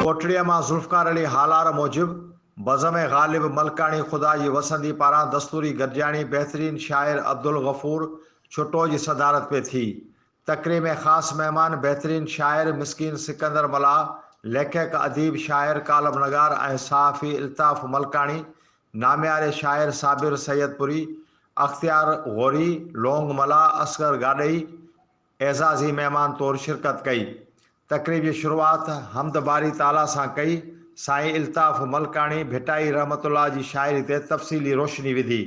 ڪوٽڙيء مان ذوالفقار علي هالار موجب، بزم غالب ملڪاڻي خدا جي وسندي پاران دستوري گڏجاڻي بهترين شاعر عبدالغفور ڇٽو جي صدارت ۾ ٿي. تقري ۾ خاص مهمان بهترين شاعر مسڪين سڪندر ملاح، ليکڪ، اديب، شاعر، ڪالم نگار ۽ صحافي الطاف ملڪاڻي نامياري شاعر صابر سيدپوري، اختيار غوري، لونگ ملاح، اصغر گاڏهي اعزازي مهمان طور شرڪت ڪئي. تقريب جي شروعات حمد باري تعاليٰ سان ڪئي. سائين الطاف ملڪاڻي ڀٽائي رحمة الله جي شاعري تي تفصيلي روشني وڌي.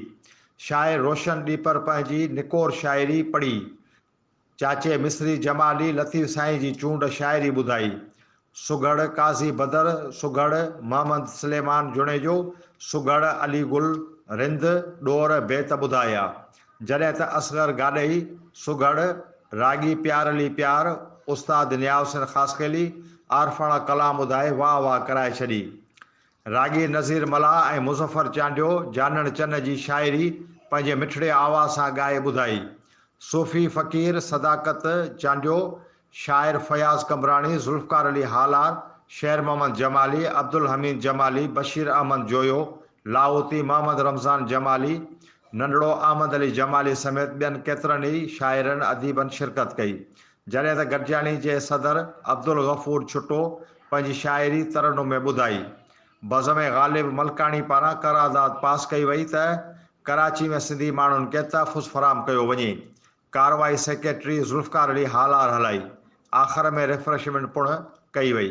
شاعر روشن ڏيپر پنهنجي نڪور شاعري پڙهي. چاچي مصري جمالي لطيف سائين جي چونڊ شاعري ٻڌائي. سگهڙ قاضي بدر، سگهڙ محمد سليمان جوڻيجو، سگهڙ علي گل رند ڏور بيت ٻڌايا. جڏهن ته اصغر گاڏهي، سگهڙ راڳي پيار علي پيار، استاد نياحسين خاصخيلي عارفاڻا ڪلام ٻڌائي واهه واهه ڪرائي ڇڏي. راڳي نذير ملاح ۽ مظفر چانڊيو جانڻ چن جي شاعري پنهنجي مٺڙي آواز سان ڳائي ٻڌائي. صوفي فقير صداقت چانڊيو، شاعر فياض قمبراڻي، ذوالفقار علي هالار، شير محمد جمالي، عبدالحميد جمالي، بشير احمد جويو، لاهوتي محمد رمضان جمالي، ننڍڙو احمد علي جمالي سميت ٻين ڪيترن ئي شاعرن اديبن شرڪت ڪئي. جڏهن ته گڏجاڻي جي صدر عبدالغفور ڇٽو پنهنجي شاعري ترنم ۾ ٻڌائي. بزم غالب ملڪاڻي پاران قرارداد پاس ڪئي وئي ته ڪراچي ۾ سنڌي ماڻهن کي تحفظ فراهم ڪيو وڃي. ڪارروائي سيڪريٽري ذوالفقار علي هالار هلائي. آخر ۾ ريفرشمينٽ پڻ ڪئي وئي.